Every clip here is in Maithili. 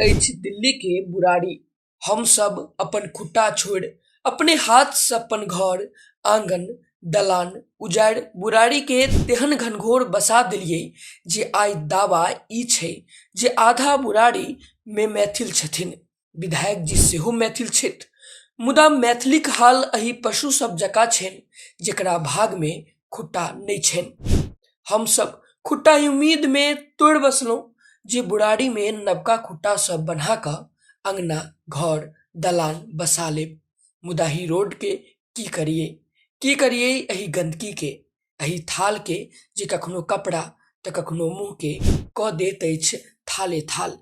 अछि दिल्ली के बुराड़ी हम सब अपन खुट्टा छोड़ि अपने हाथ से अपन घर आंगन दलान उजाड़ि बुराड़ी के तेहन घनघोर बसा देलियै जे आइ दावा ई छै जे आधा बुराड़ी मे मैथिल छथिन विधायक जी सेहो मैथिल छथि मुदा मैथिलीक हाल अही पशु सब जकाँ छनि जेकरा भाग मे खुट्टा नहि छनि हमसब खुट्टा उम्मीद मे तोड़ि बसलहुँ जे बुढ़ारी मे नवका खुट्टा सब बना कऽ अङ्गना घर दलान बसा लेब मुदा ही रोड के की करियै की करियै एहि गन्दगी के एहि थाल के जे कखनो कपड़ा तऽ कखनो मुँह के कऽ दैत अछि थाले थाल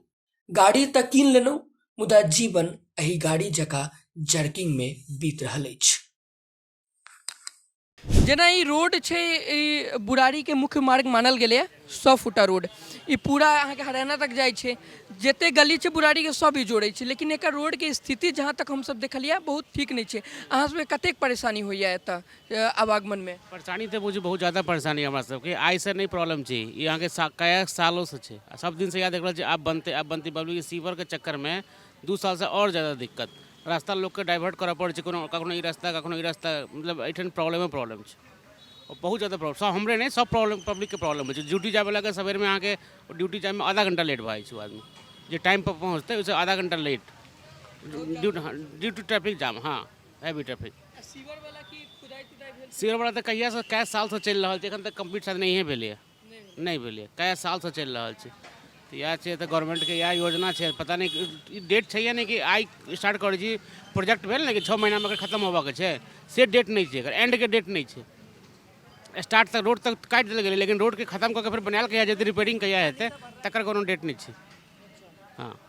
गाड़ी तऽ कीन लेलहुँ मुदा जीवन एहि गाड़ी जकाँ जर्किंगमे बीत रहल अछि जेना ई रोड छै ई बुरारीके मुख्य मार्ग मानल गेलैए सौ फुटा रोड ई पूरा अहाँके हरियाणा तक जाइ छै जते गली छै बुरारीके सब ई जोड़ै छै लेकिन एकर रोडके स्थिति जहाँ तक हमसब देखलिए बहुत ठीक नहि छै अहाँ सबके कतेक परेशानी होइए एतऽ आवागमनमे। परेशानी तऽ बुझू बहुत जादा परेशानी हमरा सबके आइसँ नहि प्रॉब्लम छै ई अहाँके कएक सालोसँ छै आओर सब दिनसँ इएह देख रहल छियै आब बनतै आब बनतै बबली ई सीवरके चक्करमे दू सालसँ आओर जादा दिक्कत रास्ता लोकके डाइवर्ट करऽ पड़ै छै कोनो कखनो ई रास्ता कखनो ई रास्ता मतलब एहिठाम प्रॉब्लमे प्रॉब्लम छै आओर बहुत जादा प्रॉब्लम सब हमरे नहि सब प्रॉब्लम पब्लिकके प्रॉब्लम होइ छै ड्यूटी जाइवलाके सबेरमे अहाँके ड्यूटी जाइमे आधा घण्टा लेट भऽ जाइ छै ओ आदमी जे टाइमपर पहुँचतै ओहिसँ आधा घण्टा late duty duty traffic jam हँ है भी ट्रैफिक सीवर वाला की खुदाई तुदाई भेल सीवर वाला तऽ कहिया से कए साल से चलि रहल छै एखन तक कंप्लीट शायद नहिए भेलैए नहि भेलैए कए साल से चलि रहल छै तऽ इएह छै तऽ गवर्नमेंट के इएह योजना छै पता नहि ई डेट छै या नहि कि आइ स्टार्ट करै छी प्रोजेक्ट भेल ने कि छओ महीनामे अगर खत्म होबऽ के छै से डेट नहि छै एकर एंड के डेट नहि छै स्टार्ट तक रोड तक काटि देल गेलै लेकिन रोडके खत्म कऽ के फेर बनायल कहिया जेतै रिपेयरिंग कहिया हेतै तकर कोनो डेट नहि छै हँ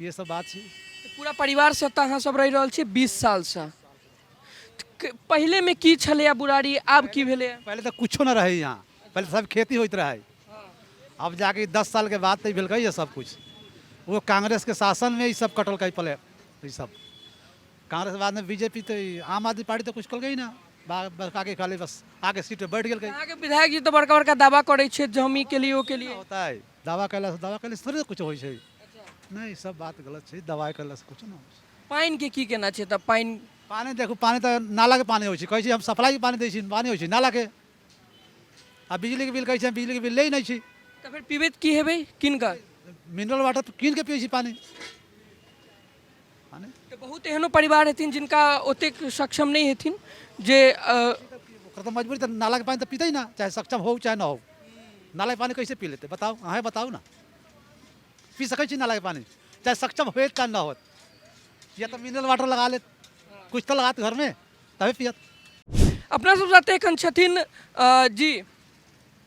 ये सब बात छी तऽ पूरा परिवारसँ एतऽ अहाँ सब रहि रहल छी बीस सालसँ तऽ क- पहिलेमे की छलैए बुढ़ारी आब की भेलैए पहले तो कुछो ना रहे यहाँ पहले तो सब खेती होत रहे अब जाके दस साल के बाद तो भेल ये सब कुछ वो कांग्रेस के शासन में ये सब कटल कई पले ये सब कांग्रेस के बाद में बीजेपी तो ई आम आदमी पार्टी तो कुछ कल गई ना बा- बस आगे खाली बस आगे सीट पे बैठ गई अहाँके विधायक जी तऽ बड़का बड़का दावा करै छथि जे हम ई केलियै ओ केलियै होता है दावा कैला से दावा कैला से थोड़े कुछ होई छै नहि ई सब बात गलत छै दवाइ करलासँ किछु नहि होइ छै पानिके की केना छै तऽ पानि पानि देखू पानि तऽ नालाके पानि होइ छै कहै छै हम सप्लाइके पानि दै छी पानि होइ छै नालाके आ बिजलीके बिल कहै छै हम बिजलीके बिल लै नहि छी तऽ फेर पीबैत की हेबै किन कऽ मिनरल वाटर तऽ कीन कऽ पियै छी पानि पानि तऽ बहुत एहनो परिवार हेथिन जिनका ओतेक सक्षम नहि हेथिन जे अ, ओकर तऽ मजबूरी तऽ नालाके पानि तऽ पीतै ना चाहे सक्षम हो चाहे ना हो नालाके पानि कैसे पी लेतै बताउ अहेँ बताउ ना पी सकै छी नालाके पानी चाहे सक्षम होत चाहे ना होत या तऽ मिनरल वाटर लगा लेत कुछ तऽ लगात घरमे तबे पियत अपना सब साथे एखन छथिन अ, जी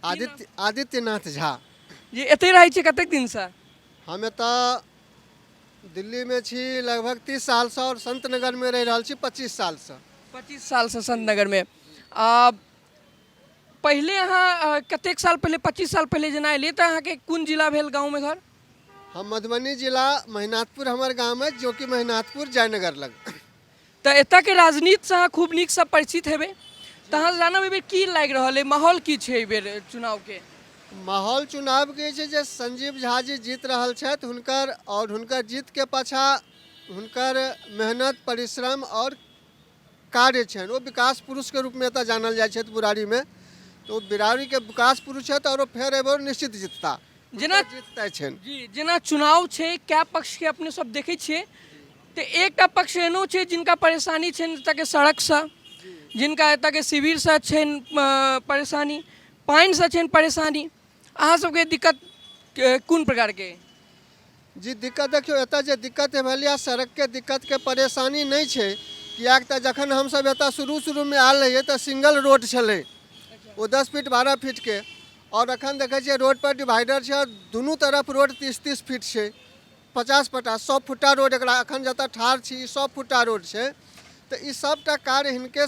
आदित्य आदित्यनाथ झा जी एतै रहै छी कतेक दिनसँ हम एतऽ दिल्लीमे छी लगभग तीस सालसँ आओर संत नगरमे रहि रहल छी पच्चीस सालसँ पच्चीस सालसँ संत नगरमे आ पहिले अहाँ कतेक साल पहिले पच्चीस साल पहिले जेना एलियै तऽ अहाँके कोन जिला भेल गाँवमे घर हम मधुबनी जिला महिनाथपुर हमर गाम अछि जो कि महिनाथपुर जयनगर लग तऽ एतऽके राजनीतिसँ अहाँ खूब नीकसँ परिचित हेबै तऽ अहाँ जानब एहिबेर की लागि रहल अइ माहौल की छै एहिबेर चुनावके माहौल चुनावके छै जे संजीव झा जी जीत रहल छथि हुनकर आओर हुनकर जीतके पाछाँ हुनकर मेहनत परिश्रम आओर कार्य छनि ओ विकास पुरुषके रूपमे एतऽ जानल जाइ छथि बुरारीमे तऽ ओ बिरारीके विकास पुरुष छथि आओर ओ फेर एहि बेर निश्चित जीतता जेना- हुनकर जीत तय छनि जी जेना चुनाव छै कए पक्षके अपने सब देखै छियै तऽ एकटा पक्ष एहनो छै जिनका परेशानी छनि एतऽके सड़कसँ जिनका एतऽके शिविरसँ छनि अ, परेशानी पानिसँ छनि परेशानी अहाँ सबके दिक्कत अ, कोन प्रकारके अइ? जी दिक्कत देखियौ एतऽ जे दिक्कत भेल यऽ सड़कके दिक्कतके परेशानी नहि छै किएक तऽ जखन हमसभ एतऽ शुरू शुरूमे आयल रहियै तऽ सिंगल रोड छलै ओ दस फीट बारह फीटके आओर एखन देखै छियै रोडपर डिवाइडर छै आओर दुनू तरफ रोड तीस तीस फीट छै पचास पचास सए फुट्टा रोड एकरा एखन जतऽ ठाढ़ छी ई सए फुट्टा रोड छै तऽ ई सभटा कार्य हिनके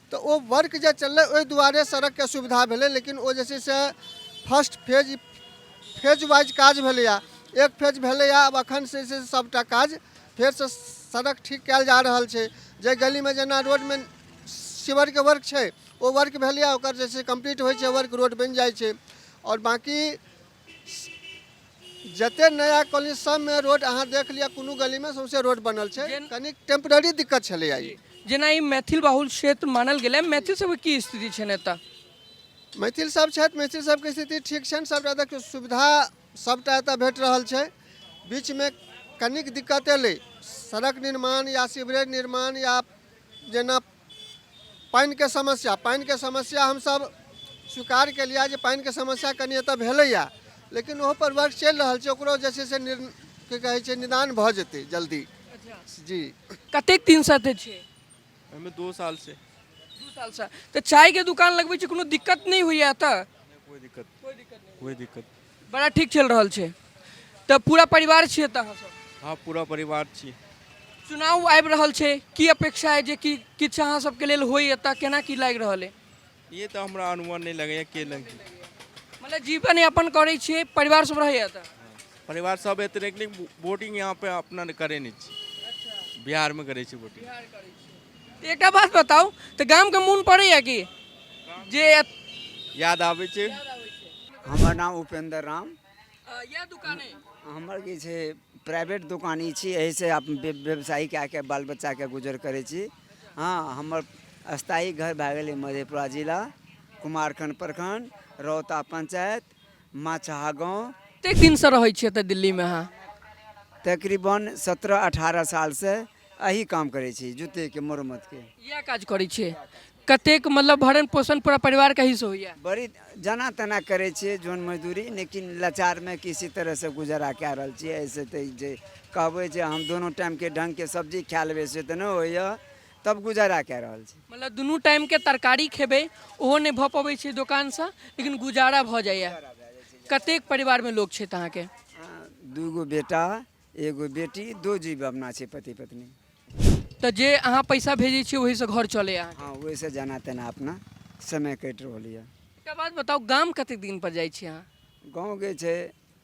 तऽ ओ वर्क जे चललै ओहि दुआरे सड़कके सुविधा भेलै लेकिन ओ जे छै से फर्स्ट फेज फेज वाइज काज भेलैए एक फेज भेलैए आब एखन से से सभटा काज फेरसँ सड़क ठीक कयल जा रहल छै जे गलीमे जेना रोडमे सीवरके वर्क छै ओ वर्क भेलैए ओकर जे छै कम्प्लीट होइ छै वर्क रोड बनि जाइ छै आओर बाँकी जते नया कॉलोनी सबमे रोड अहाँ देख लिअ कोनो गलीमे सौंसे रोड बनल छै जेन- कनी टेम्पररी दिक्कत छलै आइ जेना ई मैथिल बाहुल क्षेत्र मानल गेलै मैथिल सबके की स्थिति छनि एतऽ मैथिल सब छथि मैथिल सबके स्थिति ठीक छनि सबटा देखियौ सुविधा सबटा एतऽ भेट रहल छै बीचमे कनिक दिक्कत एलै सड़क निर्माण या सीवरेज निर्माण या जेना पानिके समस्या पानिके समस्या हमसभ स्वीकार केलिए जे पानिके समस्या कनि एतऽ भेलैए लेकिन ओहोपर वर्क चलि रहल छै ओकरो जे छै से निर की कहै छै निदान भऽ जेतै जल्दी जी कतेक दिनसँ एतऽ छिए हमे दो साल से दू सालसँ तऽ चायके दोकान लगबै छी कोनो दिक्कत नहि होइए एतऽ कोई दिक्कत कोई दिक्कत बड़ा ठीक चल रहल छै तऽ पूरा परिवार छियै तऽ अहाँ सब हाँ पूरा परिवार छी चुनाव आबि रहल छै की अपेक्षा है जे कि किछु अहाँ सबके लेल होय एतऽ केना की लागि रहल है ये तऽ हमरा अनुमान नहि लगैए के लगी मतलब जीवन यापन करै छियै परिवार सब रहैए एतऽ परिवार सब एतने लेकिन वोटिंग यहाँ पे अपना करे नहीं छी बिहार में करे छी वोटिंग एकटा बात बताउ तऽ गामके मोन पड़ैए कि जे याद आबै छै हमर नाम उपेन्द्र राम इएह दुकाने हमर की छै प्राइवेट दोकानी छी एहिसँ अपन व्य- व्यवसाय कए कऽ बाल बच्चाके गुजर करै छी हँ हमर स्थायी घर भए गेलै मधेपुरा जिला कुमारखंड प्रखंड रौता पंचायत माछहा गाँव कतेक दिनसँ रहै छी एतऽ दिल्लीमे अहाँ तकरीबन सत्रह अठारह सालसँ एही काम करै छी जूतेके मरम्मतके इएह काज करै छियै कतेक मतलब भरण पोषण पूरा परिवार कहीं से होइए बड़ी जना तना करै छियै जोन मजदूरी लेकिन लाचारमे किसी तरहसँ गुजारा कए रहल छियै ऐसे तऽ जे कहबै जे हम दुनू टाइमके ढङ्गके सब्जी खा लेबै से तऽ नहि होइए तब गुजारा कए रहल छी मतलब दुनू टाइमके तरकारी खेबै ओहो नहि भऽ पबै छै दोकानसँ लेकिन गुजारा भऽ जाइए कतेक परिवारमे लोक छथि अहाँके आ, दूगो बेटा एगो बेटी दो जीव अपना छै पति पत्नी तऽ जे अहाँ पैसा भेजै छियै ओहिसँ घर चलैए अहाँके हँ ओहिसँ जेना तेना अपना समय कटि रहल यऽ एकटा बात बताउ गाम कतेक दिन पर जाइ छी अहाँ गाँवके छै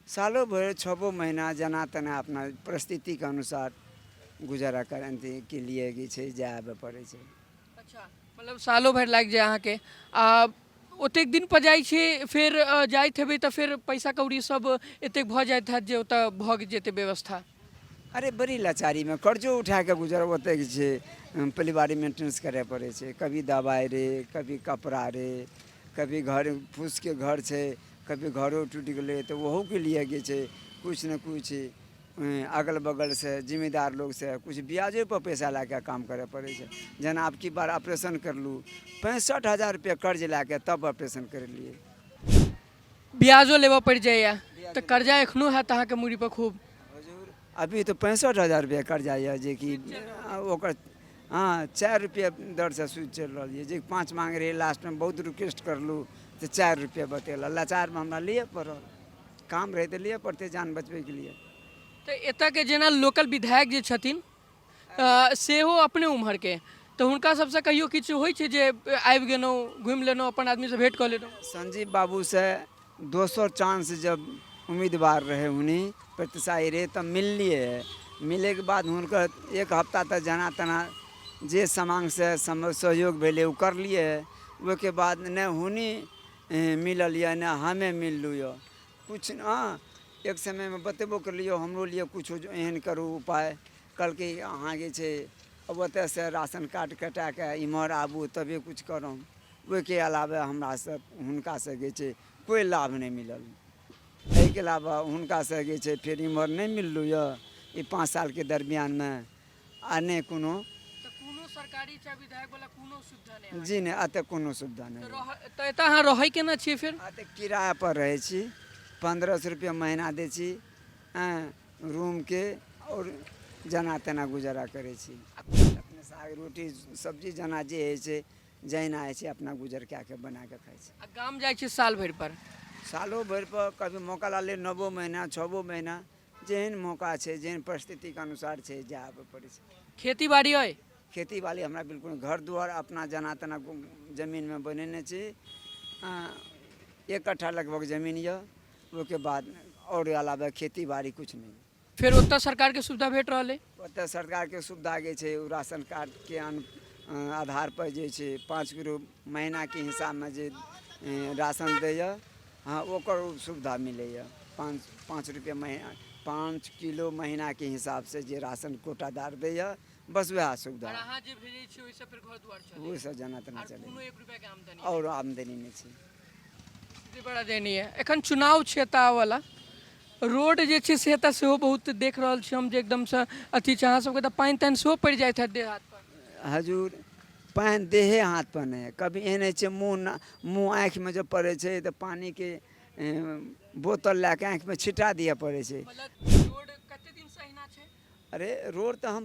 सालो भरि छबो महीना जेना तेना अपना परिस्थितिके अनुसार गुजारा करैके लिए जे छै जाय आबय पड़ै छै अच्छा मतलब सालो भरि लागि जाय अहाँके आ ओतेक दिन पर जाइ छी फेर अ, जाइत हेबै तऽ फेर पैसा कौड़ी सब एतेक भऽ जाइत हैत जे ओतऽ भऽ जेतै व्यवस्था अरे बड़ी लाचारीमे कर्जो उठा कऽ गुजर ओतेक छै परिवारी मेंटेनेंस करय पड़ै छै कभी दबाइ रे कभी कपड़ा रे कभी घर फूसके घर छै कभी घरो टूटि गेलै तऽ ओहोके लिए जे छै किछु ने किछु अगल बगलसँ जिम्मेदार लोकसँ किछु ब्याजेपर पैसा लए कऽ काम करय पड़ै छै जेना आब की बार ऑपरेशन करलहुँ पैंसठि हजार रुपैआ कर्ज लए कऽ तब ऑपरेशन करेलियै ब्याजो लेबऽ पड़ि जाइए तऽ कर्जा एखनो हैत अहाँके मूड़ीपर खूब अभी तऽ पैंसठि हजार रुपैआ कर्जा यऽ जेकि ओकर हँ चारि रुपैआ दरसँ सूद चलि रहल यऽ जे पाँच माँग रहै लास्टमे बहुत रिक्वेस्ट करलहुँ तऽ चारि रुपैआ बतेलक लाचारमे हमरा लिए पड़ल काम रहै तऽ लिए पड़तै जान बचबैके लिए तऽ एतऽके जेना लोकल विधायक जे छथिन सेहो अपने उम्हरके तऽ हुनका सबसँ कहियो किछु होइ छै जे आबि गेलहुँ घुमि लेलहुँ अपन आदमीसँ भेँट कऽ लेलहुँ संजीव बाबूसँ दोसर चांस जब उम्मीदवार रहै हुनी प्रतिसाई रहै तऽ मिललिए मिलैके बाद हुनकर एक हफ्ता तऽ जेना तेना जे समांगसँ सहयोग भेलै ओ करलिए ओहिके बाद नहि हुनी मिलल यऽ नहि हमे मिललहुँ यऽ किछु ने एक समयमे बतेबो करली यौ हमरो लिए किछु एहन करू उपाय कहलकै अहाँ जे छै अब ओतयसँ राशन कार्ड कटा कऽ इमहर आबू तबे किछु करब ओहिके अलावे हमरा सब हुनका से जे छै कोइ लाभ नहि मिलल एहिके अलावा हुनका से जे छै फेर इमहर नहि मिललहुँ यऽ ई पाँच सालके दरमियानमे आ नहि कोनो तऽ कोनो सरकारी चाहे विधायक वाला कोनो सुविधा नहि अहाँके? जी नहि एतऽ कोनो सुविधा नहि तऽ रह- तऽ एतऽ अहाँ रहै केना छियै फेर एतऽ किराया पर रहै छी पन्द्रह सए रुपया महीना दै छी हँ रूमके आओर जेना तेना गुजारा करै छी अपने साग रोटी सब्जी जेना जे होइ छै जहिना होइ छै अपना गुजर कए कऽ बना कऽ खाइ छी आ गाम जाइ छियै साल भरि पर सालो भरि पर कभी मौका लागलै नओ महीना छओ महीना जेहन मौका छै जेहन परिस्थितिके अनुसार छै जाए आबय पड़ै छै खेती बाड़ी अइ खेती बाड़ी हमरा बिल्कुल नहि। घर दुआर अपना जेना तेना गु- जमीनमे बनेने छी अँ, एक कट्ठा लगभग जमीन यऽ ओहिके बाद आओर अलावे खेती बाड़ी किछु नहि फेर ओतऽ सरकारके सुविधा भेट रहल अइ ओतऽ सरकारके सुविधा जे छै ओ राशन कार्डके आधारपर जे छै पाँच किलो महीनाके हिसाबमे जे राशन दैए हँ ओकर सुविधा मिलैए पाँच पाँच रुपैए महीना पाँच किलो महीनाके हिसाबसँ जे राशन कोटादार दैए बस वएह सुविधा ओहिसँ जेना तेना चलै आओर आमदनी नहि छै स्थिति बड़ा दयनीय है एखन चुनाव छै एतऽ आबऽवला रोड जे छै से एतऽ सेहो बहुत देख रहल छी हम जे एकदमसँ अथी छै अहाँ सबके तऽ पानि तानि सेहो पड़ि जाइत हैत देह हाथपर हजूर पानि देहे हाथपर नहि हइ कभी एहन होइ छै मुँह ना मुँह आँखिमे जब पड़ै छै तऽ पानिके एँ, बोतल लए कऽ आँखिमे छिटा दिअ पड़ै छै मतलब रोड कते दिनसँ अहिना छै अरे रोड तऽ हम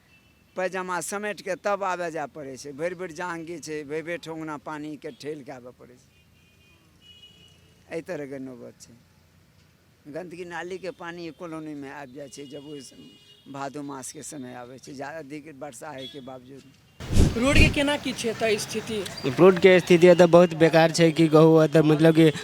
पैजामा समेटि कऽ तब आबय जाय पड़ै छै भरि भरि जाँग गीच छै भरि भरि ठेहुना पानिके ठेल कऽ आबय पड़ै छै एहि तरहके नौबत छै गन्दगी नालीके पानि कॉलोनीमे आबि जाइ छै जब ओहि भादो मासके समय आबै छै जा अधिक वर्षा होइके बावजूद रोडके केना की छै एतऽ स्थिति रोडके स्थिति एतऽ बहुत बेकार छै की कहू एतऽ मतलब की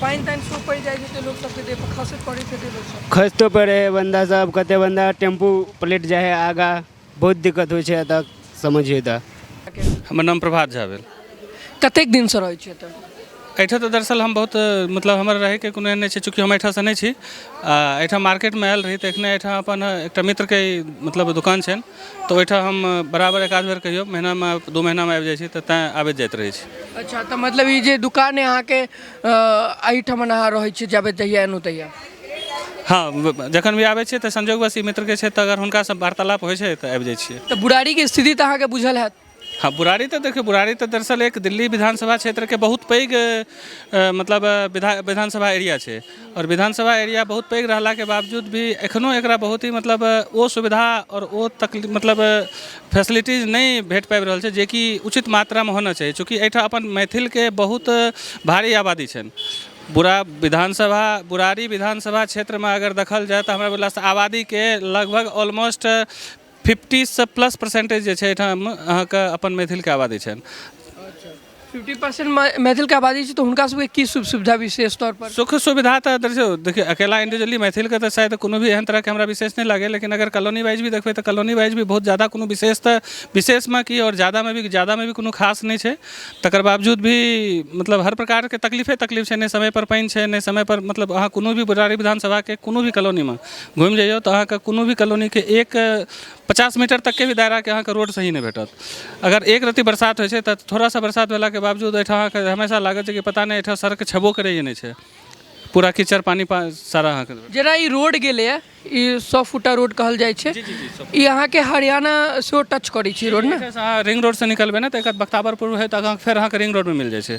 पानि तानि खूब पड़ि जाइ छै लोक सबके देह पर खसैत पड़ै छै लोक सब खसितो पड़ै है बन्दा सब कते बन्दा टेम्पू पलटि जाइ है आगा बहुत दिक्कत होइ छै एतऽ समझिए तऽ हमर नाम प्रभात झा भेल कतेक दिन से रहै छियै एतऽ एहिठाम तऽ दरअसल हम बहुत मतलब हमर रहैके कोनो एहन नहि छै चूँकि हम एहिठामसँ नहि छी आ एहिठाम मार्केटमे आयल रही तऽ एखने एहिठाम अपन एकटा मित्रके मतलब दोकान छनि तऽ ओहिठाम हम बराबर एक आध बेर कहियो महिनामे दू महिनामे आबि जाइ छी तऽ तैं आबैत जाइत रहै छी अच्छा तऽ मतलब ई जे दुकान अइ अहाँके एहिठमन अहाँ रहै छी जाबे जहिया एलहुँ तहिया हँ जखन भी आबै छियै तऽ संजोगवश ई मित्रके छथि तऽ अगर हुनकासँ वार्तालाप होइ छै तऽ आबि जाइ छियै तऽ बुढ़ारीके स्थिति तऽ अहाँके बुझल होयत हँ बुढ़ारी तऽ देखियौ बुढ़ारी तऽ दरअसल एक दिल्ली विधानसभा क्षेत्रके बहुत पैघ मतलब विधा विधानसभा एरिया छै आओर विधानसभा एरिया बहुत पैघ रहलाके बावजूद भी एखनो एकरा बहुत ही मतलब ओ सुविधा आओर ओ तक मतलब फैसिलिटीज नहि भेट पाबि रहल छै जेकि उचित मात्रामे होना चाही चूँकि एहिठाम अपन मैथिलके बहुत भारी आबादी छनि बुरा विधानसभा बुरारी विधानसभा क्षेत्रमे अगर देखल जाय तऽ हमरा भेलासँ आबादीके लगभग ऑलमोस्ट फिफ्टीसँ प्लस परसेन्टेज जे छै एहिठाम अहाँके अपन मैथिलके आबादी छनि फिफ्टी परसेंट मैथिलके आबादी छै तऽ हुनका सबके की सुख सुविधा विशेष तौर पर सुख सुविधा तऽ देखियौ देखियौ अकेला इंडिविजुअली मैथिलके तऽ शायद कोनो भी एहन तरहके हमरा विशेष नहि लागैए लेकिन अगर कॉलोनी वाइज भी देखबै तऽ कॉलोनी वाइज भी बहुत जादा कोनो विशेष तऽ विशेषमे की आओर जादामे भी जादामे भी कोनो खास नहि छै तकर बावजूद भी मतलब हर प्रकारके तकलीफे तकलीफ छै नहि समयपर पानि छै नहि समयपर मतलब अहाँ कोनो भी बरारी विधानसभाके कोनो भी कॉलोनीमे घुमि जइयौ तऽ अहाँके कोनो भी कॉलोनीके एक पचास मीटर तकके भी दायराके अहाँके रोड सही नहि भेटत अगर एक रत्ती बरसात होइ छै तऽ थोड़ा सा बरसात भेलाके बावजूद अइठाम अहाँके हमेशा लागत जे कि पता नहि अइठाम सड़क छेबो करै या नहि छै पूरा कीचड़ पानि सारा अहाँके जेना ई रोड गेलैए ई सौ फुटा रोड कहल जाइ छै ई अहाँके हरियाणा सेहो टच करै छै रोड ने अहाँ रिंग रोडसँ निकलबै ने तऽ एकर बख्ताबरपुर होइत आगाँ फेर अहाँके रिंग रोडमे मिल जाइ छै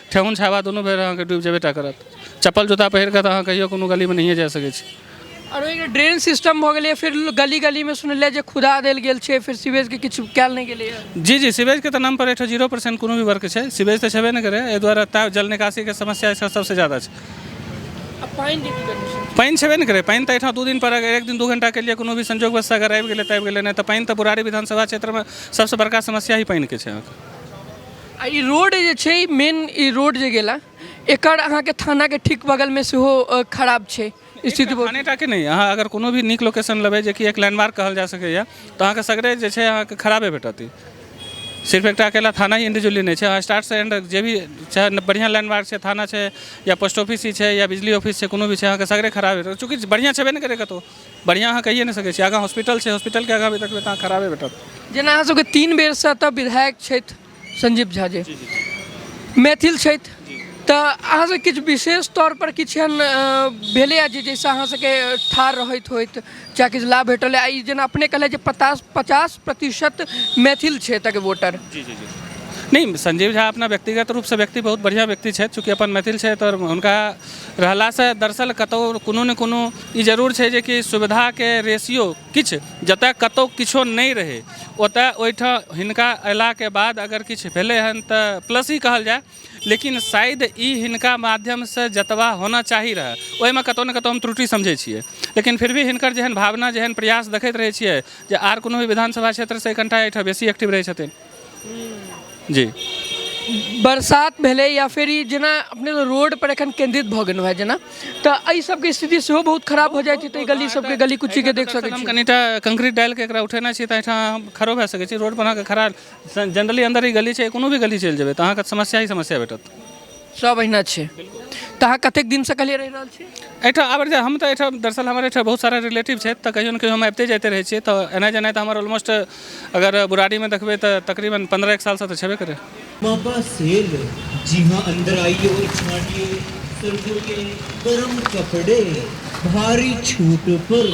ठेहुन छाबा दुनू बेर अहाँके डूबि जेबे टा करत चप्पल जूता पहिर कऽ तऽ अहाँ कहियो कोनो गलीमे नहिए जा सकै छी आओर ओहिके ड्रेन सिस्टम भऽ गेलै फिर गली गलीमे सुनलिए जे खुदा देल गेल छै फिर सीवेजके किछु कयल नहि गेलै जी जी सीवेजके तऽ नाम पर एहिठाम जीरो परसेंट कोनो भी वर्क छै सीवेज तऽ छेबे नहि करै एहि दुआरे ता जल निकासीके समस्या एहिठाम सबसँ ज्यादा छै पानि छेबे नहि करै पानि तऽ एहिठाम दू दिन पर अगर एक दिन दू घंटाके लिए कोनो भी संजोगवश अगर आबि गेलै तऽ आबि गेलै नहि तऽ पानि तऽ बुरारी विधानसभा क्षेत्रमे सबसँ बड़का समस्या ही पानिके छै अहाँके आ ई रोड जे छै मेन ई रोड जे गेला एकर अहाँके थानाके ठीक बगलमे सेहो अ, खराब छै स्थिति बहुत खाने टाके नहि अहाँ अगर कोनो भी नीक लोकेशन लेबै जे कि एक लैंडमार्क कहल जा सकैए तऽ अहाँके सगरे जे छै अहाँके खराबे भेटत ई सिर्फ एकटा अकेला थाना ही इंडिविजुअली नहि छै अहाँ स्टार्ट से एंड जे भी चाहे न- बढ़िया लैंडमार्क छै थाना छै या पोस्ट ऑफिस ही छै या बिजली ऑफिस छै कोनो भी छै अहाँके सगरे खराबे भेटत चूँकि बढ़िया छेबे नहि करे कतौ बढ़िआँ अहाँ कहिए नहि सकै छी आगाँ हॉस्पिटल छै हॉस्पिटलके आगाँ भी देखबै तऽ अहाँ खराबे भेटत जेना अहाँ सबके तीन बेरसँ एतऽ विधायक छथि संजीव झा जी मैथिल छथि तऽ अहाँ सब किछु विशेष तौर पर किछु एहन अ, भेलैए जे जाहिसँ अहाँ सबके ठाढ़ रहैत होइत चाहे किछु लाभ भेटल है ई जेना अपने कहले जे पचास पचास प्रतिशत मैथिल छै एतऽके वोटर जी जी जी नहीं संजीव झा अपना व्यक्तिगत रूपसँ व्यक्ति बहुत बढ़िआँ व्यक्ति छथि चूँकि अपन मैथिल छथि आओर हुनका रहलासँ दरअसल कतहु कोनो ने कोनो ई जरूर छै जे कि सुविधाके रेशियो किछु जतऽ कतौ किछो नहि रहै ओतऽ ओहिठाम हिनका अयलाके बाद अगर किछु भेलै हन तऽ प्लस ही कहल जाय लेकिन शायद ई हिनका माध्यमसँ जतबा होना चाही रहय ओहिमे कतौ ने कतौ हम त्रुटि समझै छियै लेकिन फिर भी हिनकर जेहन भावना जेहन प्रयास देखैत रहै छियै जे आर कोनो भी विधानसभा क्षेत्रसँ कनिटा एहिठाम बेसी एक्टिव रहै छथिन जी बरसात भेलै या फेर ई जेना अपने रोड पर एखन केंद्रित भऽ गेलहुँ है जेना तऽ एहि सबके स्थिति सेहो बहुत खराब भऽ जाइत हेतै गली सबके गली कुची के देख सकैत छी कनिटा कंक्रीट डालि के एकरा उठेना छी तऽ एहिठाम हम खड़ो भए सकैत छी रोड पर अहाँके खड़ा जनरली अंदर ई गली छै कोनो भी गली चलि जेबै तऽ अहाँके समस्या ही समस्या भेटत सब अहिना छै तऽ अहाँ कतेक दिनसँ कहलिए रहि रहल छी एहिठाम आबि जाए हम तऽ एहिठाम दरअसल हमर एहिठाम बहुत सारा रिलेटिव छथि तऽ कहिओ ने कहिओ हम आबिते जाइते रहै छिए तऽ एनाइ जेनाइ तऽ हमर ऑलमोस्ट अगर बुढ़ारीमे देखबै तऽ तकरीबन पनरह एक सालसँ तऽ छेबे करै पापा सेब जी हाँ अंदर आइए और छाटिए सर्दियों के गर्म कपड़े भारी छूट पर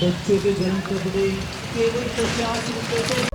बच्चों के गर्म कपड़े केवल पचास रुपये